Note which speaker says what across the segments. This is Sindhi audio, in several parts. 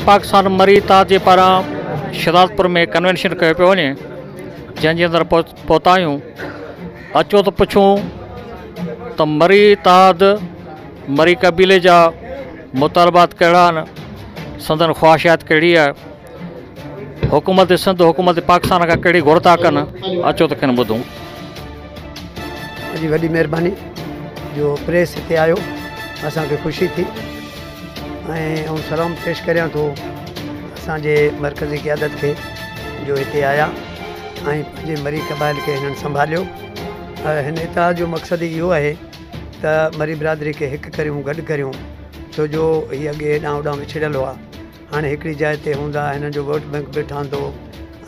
Speaker 1: پاڪستان مري اتحاديء پاران شھدادپور ۾ ڪنوينشن ڪيو پيو وڃي جنھن جي اندر پھتا آھيون اچو ته پڇون ته مري اتحاد مري قبيلي جا مطالبات ڪھڙا آھن سندن خواھشات ڪھڙي آھي حڪومت سنڌ حڪومت پاڪستان کان ڪهڙي گهر ٿا ڪن اچو ته کين ٻڌون.
Speaker 2: جي وڏي مهرباني جو پريس هتي آيو اسان کي خوشي ٿي ۽ آئون سلام پيش ڪريان ٿو اسان جي مرڪزي قيادت کي جو هتي آيا ۽ پنهنجي مري قبائل کي هنن سنڀاليو هن اتحاد جو مقصد ئي اهو آهي ته مري برادري کي هڪ ڪريون گڏ ڪريون ڇو جو هي اڳي هيڏانهن هوڏانهن وڇڙيل هئا هاڻي هڪڙي جاء تي هوندا، هنن جو ووٽ بئنڪ به ٺهندو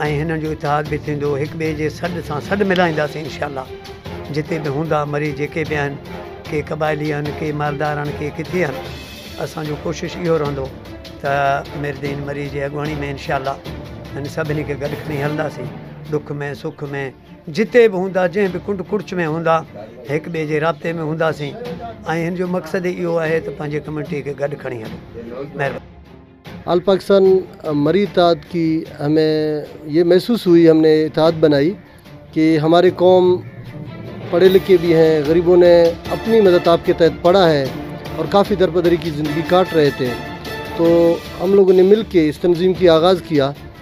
Speaker 2: ۽ هنن جو اتحاد به ٿيندو، هڪ ٻئي جي سڏ سان سڏ ملائينداسين انشاء الله جتي به هوندا مري جيڪي به آهن ڪي قبائلي آهن ڪي مالدار آهن ڪي ڪٿي آهن اسان جو ڪوشش اهو رهندو ته ميردين مري جي اڳواڻي ۾ انشاء الله هن سڀني کي گڏ کڻي هلنداسين ڏک ۾ سک ۾. جتي به هوندا جنهن به ڪنڊ ڪڙڇ ۾ هوندا هڪ ٻئي جي رابطي ۾ هونداسين ۽ هن جو مقصد ئي اهو آهي ته پنهنجي ڪميونٽي کي گڏ کڻي هلون مهرباني. آل
Speaker 3: پاڪستان مري اتحاد ڪي همي يي محسوس هئي هم ني اتحاد بنائي ڪي هماري قوم پڙهي لکي بي هي غريبو ني اپني مدد آپ ڪي تحت پڙا هي اور ڪافي درپدري ڪي زندگي ڪاٽ رهي تي تو هم لوگو ني مل ڪي اس تنظيم ڪي آغاز ڪيا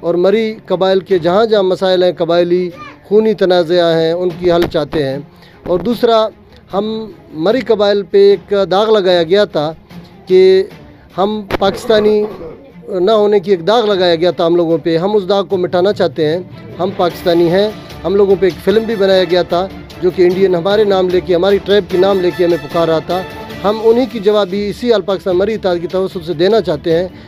Speaker 3: اور مري قبائل ڪي جهان جهان مسائل هين قبائلي خوني تنازعه هين ان ڪي حل چاهتي هين اور دوسرا هم مري قبائل پي ايڪ داغ لگايا گيا تا ڪي هم پاڪستاني نه هوني ڪي ايڪ داغ لگايا گيا تا هم لوگون پي هم اس داغ ڪو مٽانا چاهتي هين هم پاڪستاني هين هم لوگون پي ايڪ فلم بي بنايا گيا تا جو ڪي انڊين هماري نام لي ڪي هماري ٽريب ڪي نام لي ڪي همي پڪار رها تا هم انهي ڪي جواب بي سي آل پاڪستان مري اتحاد ڪي توسط سي دينا چاهتي هين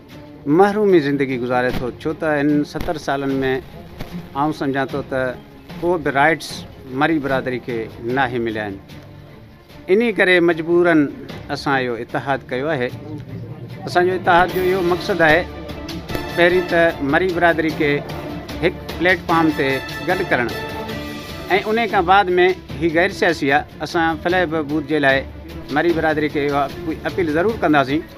Speaker 4: محرومي زندگي گذاري ٿو ڇو ته هن ستر سالن ۾ آئون سمجهان ٿو ته ڪو به رائيٽس مري برادري کي ناهي مليا آهن انهي ڪري مجبورن اسان اهو اتحاد ڪيو آهي اسان جو اتحاد جو اهو مقصد آهي پهرين ته مري برادري کي هڪ پليٽ فارم تي گڏ ڪرڻ ۽ انهي کان بعد ۾ هي غير سياسي آهي اسان فلاح بهبود جي لاء مري برادري کي اها اپيل ضرور ڪنداسين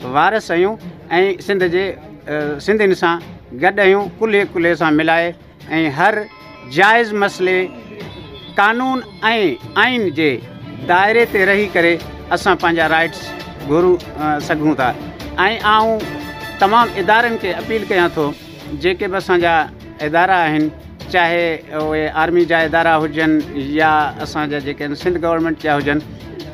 Speaker 4: وارث اھيون ۽ سنڌ جي سنڌين سان گڏ اھيون ڪلھي ڪلھي سان ملائي ۽ ھر جائز مسئلي قانون ۽ آئين جي دائري تي رھي ڪري اسان پنھنجا رائيٽس گھرو سگھون ٿا ۽ آئون تمام ادارن کي اپيل ڪيان ٿو جيڪي به اسان جا ادارا آهن چاهي اهي آرمي جا ادارا هجن يا اسان جا جيڪي آهن سنڌ گورنمينٽ جا هجن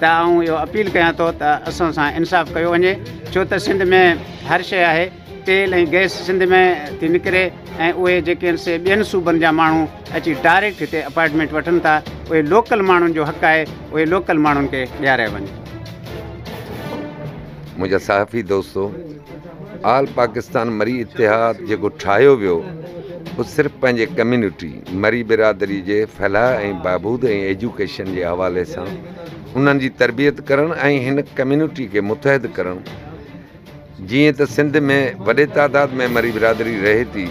Speaker 4: ته آئون اهو اپيل ڪيان ٿو ته اسان سان انصاف ڪيو وڃي ڇو ته سنڌ ۾ هر شي آهي تيل ۽ گئس سنڌ ۾ ٿي نڪري ۽ اهي جيڪي آهن سي ٻين صوبن جا ماڻهو اچي ڊائريڪٽ هتي اپائنٽمينٽ وٺن ٿا اهي لوڪل ماڻهن جو حق آهي اهي لوڪل ماڻهن کي ڏياريا وڃن منهنجا صحافي
Speaker 5: دوستو آل پاڪستان مري اتحاد جيڪو ٺاهيو ويو اهو صرف پنهنجي ڪميونٽي مري برادري جي فلاح ۽ بهبود ۽ ايجوڪيشن جي حوالي سان انهن جي تربيت ڪرڻ ۽ هن ڪميونٽي کي متحد ڪرڻ جيئن ته سنڌ ۾ وڏي تعداد ۾ مري برادري رهي ٿي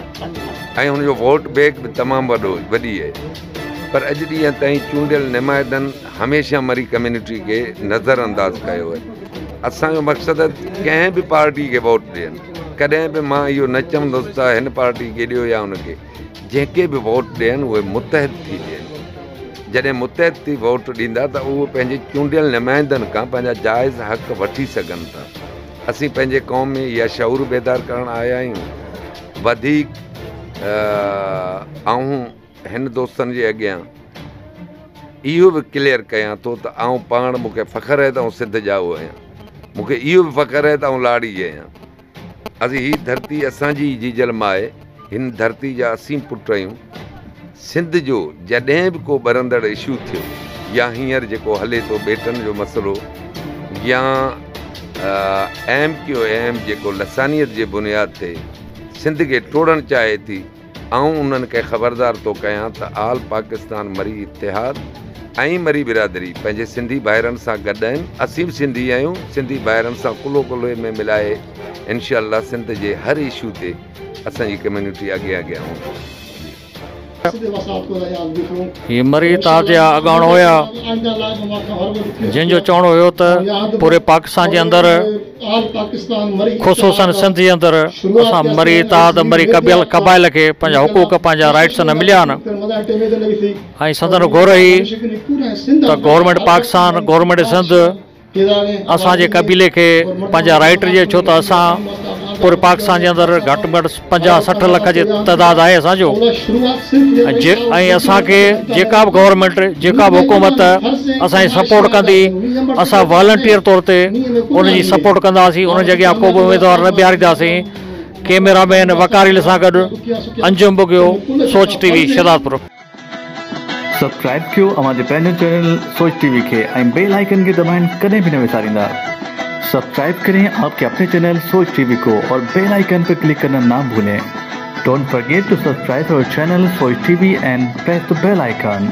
Speaker 5: ۽ هن جو ووٽ بيگ به تمام وڏو وڏي اهي پر اڄ ڏينهن تائين چونڊيل نمائندن هميشه مري ڪميونٽي کي نظر انداز ڪيو وڃي اسان جو مقصد ڪنهن به پارٽي کي ووٽ ڏين ڪڏهن به مان اهو نه چوندس ته هن پارٽي کي ڏيو يا ان کي جيڪي به ووٽ ڏين اهي متحد ٿي ڏين جڏهن متحد ٿي ووٽ ڏيندا ته اهو پنهنجي چونڊيل نمائندن کان پنهنجا جائز حق وٺي سگهن ٿا اسين پنهنجي قوم ۾ اها شعور بيدار ڪرڻ آيا آهيون وڌيڪ آئون هن دوستن جي اڳيان اهو به ڪليئر ڪيان ٿو ته آئون پاڻ مون کي فخر آهي ته آئون سنڌ ڄائو آهيان مون کي اهو به فخر آهي ته آئون لاڙي جي آهيان اسين هي ڌرتي اسانجي جيجل ما آهي هن ڌرتي جا اسين پٽ آهيون سنڌ جو جڏهن به ڪو ٻرندڙ اشو ٿيو يا هينئر جيڪو هلي ٿو ٻيٽن جو مسئلو يا ايم ڪيو ايم جيڪو لسانيت جي بنياد تي سنڌ کي ٽوڙڻ چاهي ٿي آئون انهن کي خبردار ٿو ڪيان ته آل پاڪستان مري اتحاد ۽ مري برادري پنهنجي سنڌي ڀائرن سان گڏ آهن اسين به سنڌي آهيون سنڌي ڀائرن سان ڪلهو ڪلهي ۾ ملائي انشاء الله سنڌ جي هر اشو تي اسان جي ڪميونٽي اڳي اڳيان هوندي.
Speaker 1: هي مري اتحاد جا اڳاڻو هيا جن جو چوڻ هيو ته پوري پاڪستان جي اندر خصوصن سنڌ جي اندر اسان مري اتحاد مري قبائل کي پنهنجا حقوق پنهنجا رائيٽس نه مليا آهن ۽ سندن گهر هي ته گورنمينٽ پاڪستان گورنمينٽ سنڌ اسان جي قبيلي کي پنهنجا رائيٽ ڏي ڇو ته اسان پوري پاڪستان جي اندر گهٽ ۾ گهٽ پنجاهه سٺ لک جي تعداد آهي اسان جو ۽ اسان کي جيڪا به گورنمينٽ جيڪا به حڪومت اسان جي سپورٽ ڪندي اسان والنٽيئر طور تي ان جي سپورٽ ڪنداسين ان جي اڳيان ڪو به اميدوار نه بيهارينداسين ڪيميرا مين وقار علي سان گڏ Anjum Bughio Soch T V Shahdadpur
Speaker 6: subscribe ڪيو اوهان جي پنهنجو چينل سوچ ٽي وي کي ۽ بيل آئيڪن کي دٻائڻ ڪڏهن به نه وساريندا سبسڪرائب ڪرين آپ ڪي اپني چينل سوچ ٽي وي ڪو اور بيل آئيڪن پي ڪلڪ ڪرنا نا ڀولين ڊونٽ فرگيٽ ٽو سبسڪرائب اور channel Soch T V and press the bell icon.